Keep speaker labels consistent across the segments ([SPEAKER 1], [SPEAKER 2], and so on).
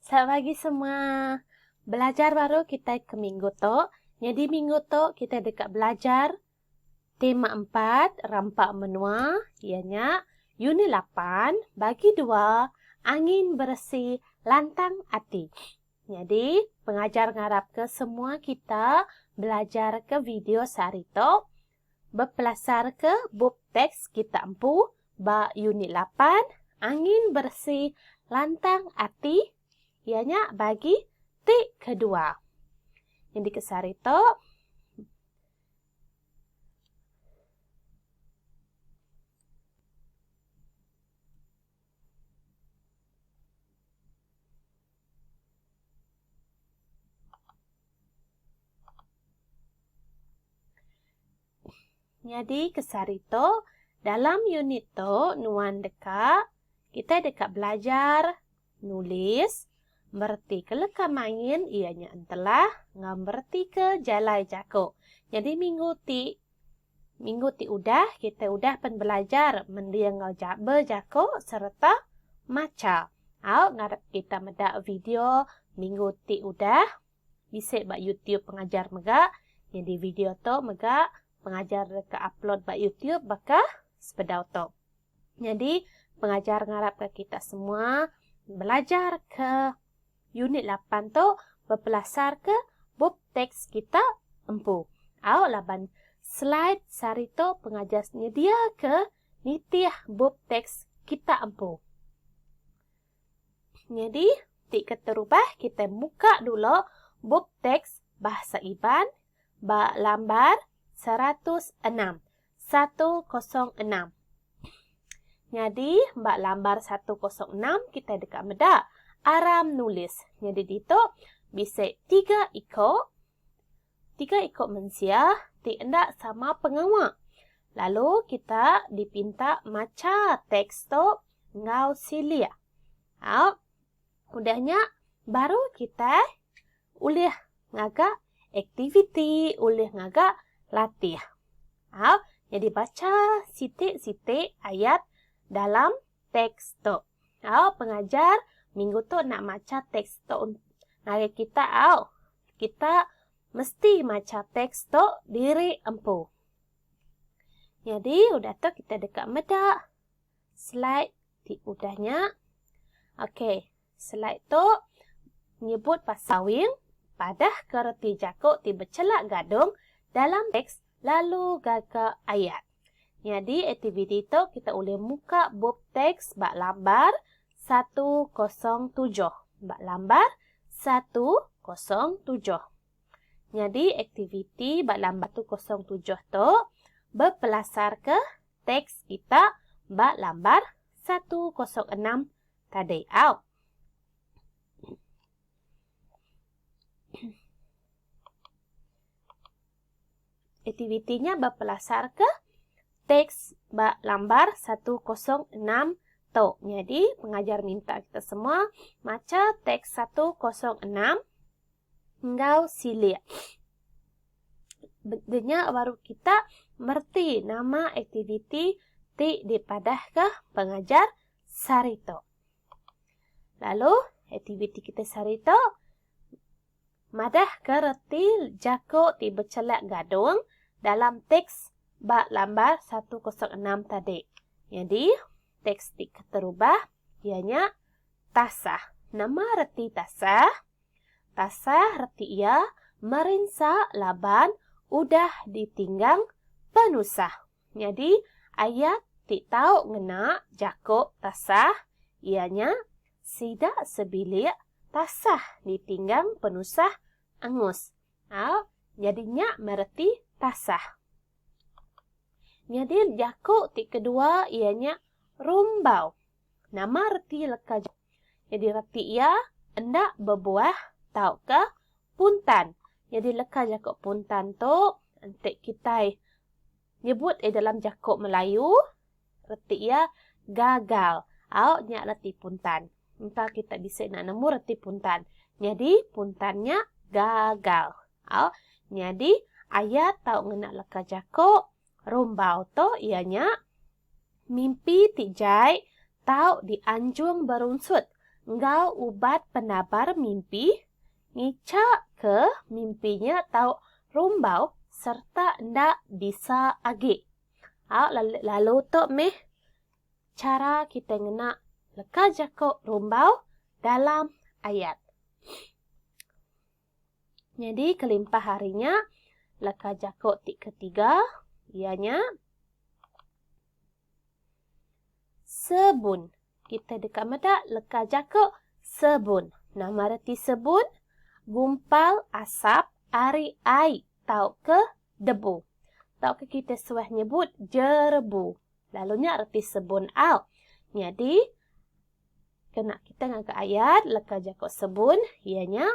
[SPEAKER 1] Selamat pagi semua. Belajar baru kitai ke minggu tu. Nyadi minggu tu kitai deka belajar tema empat rampa menua iya nya unit lapan bagi dua angin beresi lantang ati. Nyadi pengajar ngarapka semua kita belajarka video sehari tu Bepelasarka bup teks kita empu ba Unit Lapan, Angin Beresi Lantang Ati, iya nya bagi ti kedua. Nyendika sehari tu, Nyadi kesari tu, dalam unit tu nuan deka kitai deka belajar nulis, meretika leka main iya nya entelah enggau meretika jalai jaku. Nyadi minggu ti. Minggu ti udah, kitai udah pen belajar mending enggau ja bejaku sereta macha. Au ngarap kita meda video minggu ti udah bisi ba YouTube pengajar mega. Nyadi video tu mega pengajar deka upload ba YouTube baka sebedau tu. Nyadi pengajar ngarap ka kita semua belajar ke Unit lapan tu bepelasarka bup teks kita empu. Au laban slide sehari tu pengajar nyediaka nitih bup teks kita empu. Nyadi, ti keterubah kitai muka dulu bup teks Bahasa Iban ba lambar seratus enam Satu kosong enam. Nyadi ba lambar satu kosong enam kitai deka meda aram nulis. Nyadi ditu bisi tiga iku tiga iku mensia ti enda sama pengawa. Lalu kita dipinta macha teks tu enggau silik. Au. Udah nya baru kitai ulih ngaga aktiviti, ulih ngaga latih. Au, nyadi bacha siti-siti ayat dalam teks tu. Au, pengajar minggu tu enda macha teks tu ngagai kita, au. Kita mesti macha teks tu diri empu. Nyadi udah tu kita deka meda. Slide ti udah nya. Okey, slide tu nyebut pasal wing. Padahka reti jaku ti bechelak gadung dalam teks lalu gaga ayat. Nyadi aktiviti tu kita ulih muka bup teks ba lambar satu kosong tujuh. Ba lambar satu kosong tujuh. Nyadi aktiviti ba lambar tu kosong tujuh tu bepelasarka teks kita ba lambar satu kosong enam tadi au. Aktiviti nya bepelasarka teks ba lambar satu kosong enam tu. Nyadi pengajar minta kita semua macha teks satu kosong enam. enggau silik. Beg nya baru kita mereti nama aktiviti ti dipadahka pengajar sehari tu. Lalu aktiviti kita sehari tu madahka reti jaku ti bechelak gadung dalam teks ba lambar 106 tadi. Nyadi teks ti keterubah iya nya tasah. Nama reti tasah? Tasah reti iya merinsa laban udah ditinggang penusah. Nyadi ayat ti tau ngena jaku tasah iya nya, Sida sebilik tasah ditinggang penusah angus. Au, nyadi nya meh reti tasah. Nyadi jaku ti kedua iya nya rumbau. Nama reti leka jauh? Nyadi reti iya enda bebuah tauka puntan. Nyadi leka jaku puntan tu enti kitai nyebut iya dalam jaku Melayu reti iya gagal au nya reti puntan. Engka kitai bisi enda nemu reti puntan. Nyadi puntan nya gagal au nyadi ayat tau ngena leka jaku Rumbau tu iya nya mimpi ti jai tau dianjung berunsut enggau ubat penabar mimpi ngicha ke mimpi nya tau rumbau sereta enda bisa agi. Au lalu tu meh chara kitai ngena leka jaku rumbau dalam ayat. Nyadi kelimpah ari nya, leka jaku ti ketiga iya nya sebun. Kita deka meda leka jaku sebun. Nama reti sebun? Gumpal asap ari ai tauka debu. Tauka kita suah nyebut jerebu. Lalu nya reti sebun au. Nyadi kena kita ngaga ayat leka jaku sebun iya nya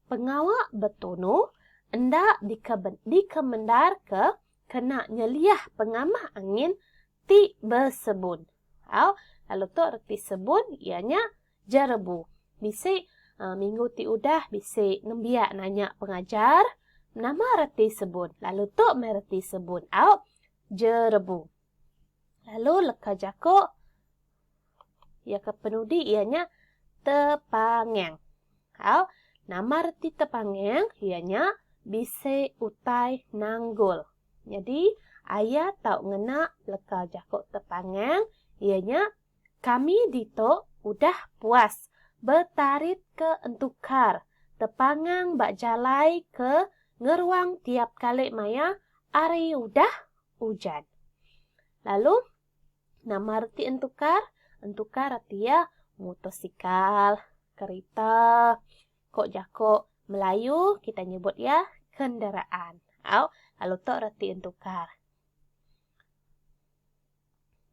[SPEAKER 1] pengawa betunu enda dikemendarka kena nyeliah pengamah angin ti besebun. Au lalu tu reti sebun iya nya jerebu. Bisi minggu ti udah bisi nembiak nanya pengajar nama reti sebun lalu tu meh reti sebun au jerebu. Lalu leka jako iya ke penudi iya nya tepangeng. Au, nama reti tepangeng iya nya bisi utai nanggul. Nyadi aya tau ngena leka jako tepangeng iya nya Kami ditu udah puas betaritka entukar tepangang ba jalai ke ngeruang tiap kali maya ari udah ujan. Lalu nama reti entukar? Entukar reti iya mutosikal, kerita, ko jako Melayu kita nyebut iya kenderaan. Au, lalu tu reti entukar.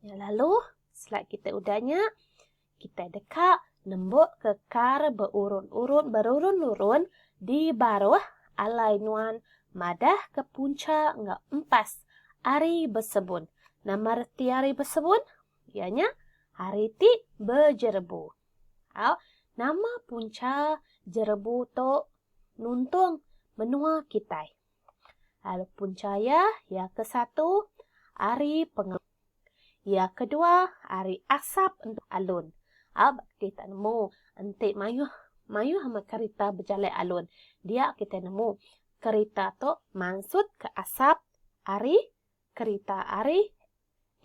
[SPEAKER 1] Nya lalu, selai kita udah nya, kita deka nembok ke kar beurun-urun berurun-urun di baruh alai nuan madah ke punca enggau empas Hari Besebun. Nama reti Hari Besebun? Iya nya hari ti bejerebu. Au, nama punca jerebu tu nuntung menua kitai? Lalu punca iya, iya ke satu ari pengeluk. Iya ke dua ari asap entu alun. Au ba kitai tak nemu enti mayuh mayuh amat kerita bejalai alun. Dia kitai nemu kerita tu mansut ke asap ari kerita ari.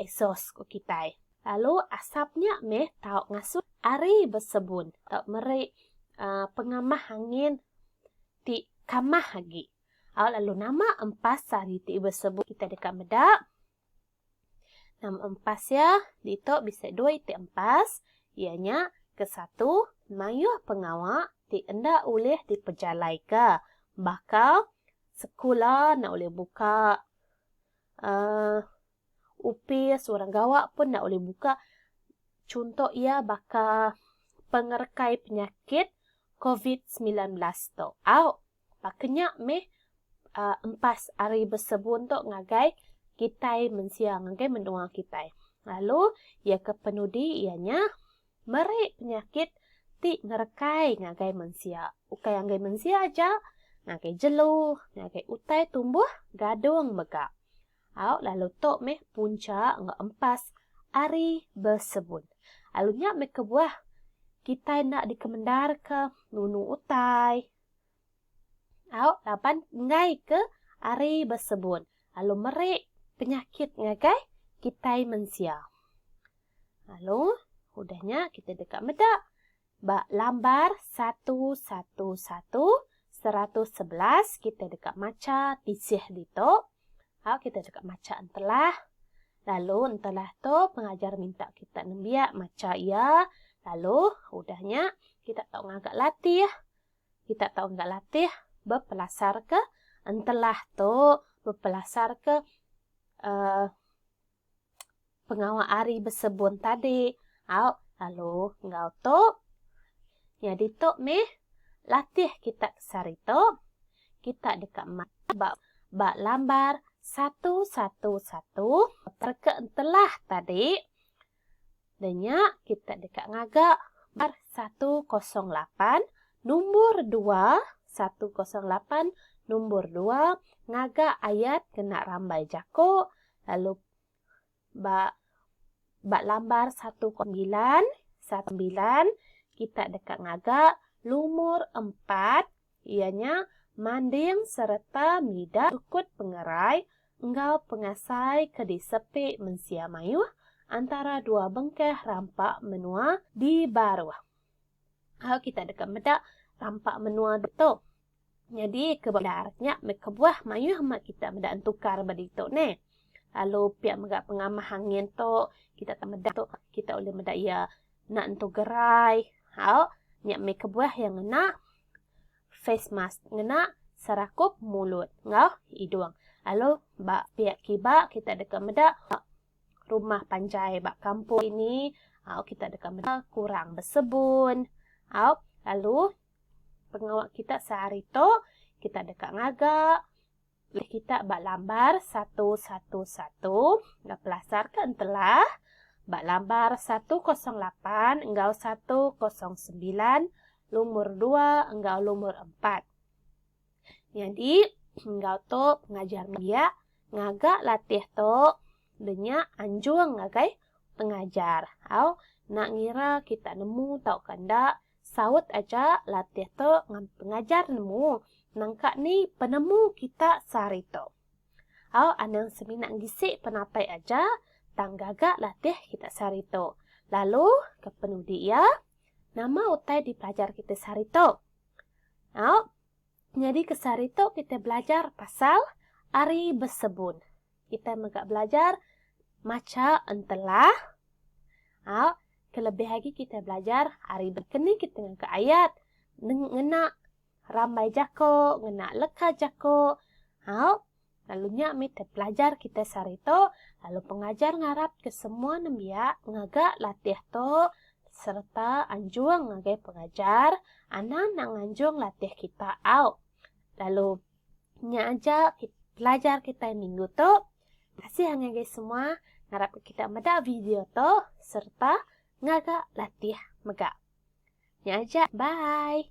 [SPEAKER 1] exhaust, ku kitai. Lalu asap nya meh tau ngasuh ari besebun tau meri pengamah angin ti kamah agi. Au lalu nama empas ari ti besebun kitai deka meda? Nama empas iya? Ditu bisi dua iti empas iya nya ke satu mayuh pengawa ti enda ulih dipejalaika baka sekula enda ulih buka. uhh opis orang gawa pun enda ulih buka chunto iya baka pengerekai penyakit covid semilan belas tu au baka nya meh uhh empas ari besebun tu ngagai kitai mensia ngagai menua kitai lalu iya ke penudi iya nya Meri penyakit ti ngerekai ngagai mensia. Ukai anggai mensia aja, ngagai jelu, ngagai utai tumbuh gadung mega. Au lalu tu meh punca enggau empas ari besebut. Lalu nya meh kebuah kitai enda dikemendarka nunu utai au laban enggai ke ari besebut lalu meri penyakit ngagai kitai mensia. Lalu, udah nya kita deka meda ba lambar satu satu satu seratus sebelas kita deka macha tisih ditu. Au kita deka macha entelah. Lalu entelah tu pengajar minta kita nembiak macha iya. Lalu udah nya kita tau ngaga latih. Kita tau ngaga latih bepelasarka entelah tu, bepelasarka uhh. pengawa ari besebun tadi. Au, lalu enggau tu. Nyadi tu meh latih kita ke sehari tu. Kita deka mat ba ba lambar satu satu satu. Reka entelah tadi. Da nya kita deka ngaga bar satu kosong lapan numbur dua satu kosong lapan numbur dua ngaga ayat kena rambai jako lalu ba ba lambar satu kosong mbilan satu mbilan kita deka ngaga lumur empat iya nya manding sereta mida tukut pengerai enggau pengasai ke disepi mensia mayuh antara dua bengkah rampa menua di baruh. Au kita deka meda rampa menua ditu. Nyadi ke bendar nya meh kebuah mayuh meh kita meda entukar ba ditu neh. Lalu pia mega pengamah angin tu kita meda tu kita ulih meda iya Enda nentu gerai. Au, nya meh kebuah iya ngena face mask, ngena serakup mulut enggau hidung. Lalu ba piak kiba kita deka meda rumah panjai ba kampung ini, au kita deka meda kurang besebun. Au, lalu pengawa kita sehari tu kita deka ngaga Meh kita ba lambar satu satu satu enggau pelasar ke entelah ba lambar satu kosong lapan enggau satu kosong sembilan lumur dua enggau lumur empat. Nyadi enggau tu pengajar biak ngaga latih tu denya anjung ngagai pengajar au nak ngira kita nemu tauka enda Saut aja latih tu ngan pengajar nemu nangka ni penemu kita sehari tu. Au anang semina ngisi penatai aja tang gaga latih kita sehari tu. Lalu ke penudi iya, nama utai dipelajar kita sehari tu? Au. Nyadi ke sehari tu kitai belajar pasal ari besebun. Kitai mega belajar macha entelah. Au, kelebih agi kitai belajar ari bekeni kitai ngaga ayat neng ngena rambai jako, ngena leka jako. Au, Lalu nya mih te pelajar kitai sehari tu, lalu pengajar ngarap ke semua nembiak ngaga latih tu sereta anjung ngagai pengajar anang enda nganjung latih kita au. Lalu nya aja pelajar kitai minggu tu. Kasih angai agi semua ngarap ke kita meda video tu sereta ngaga latih mega. Nya aja bye.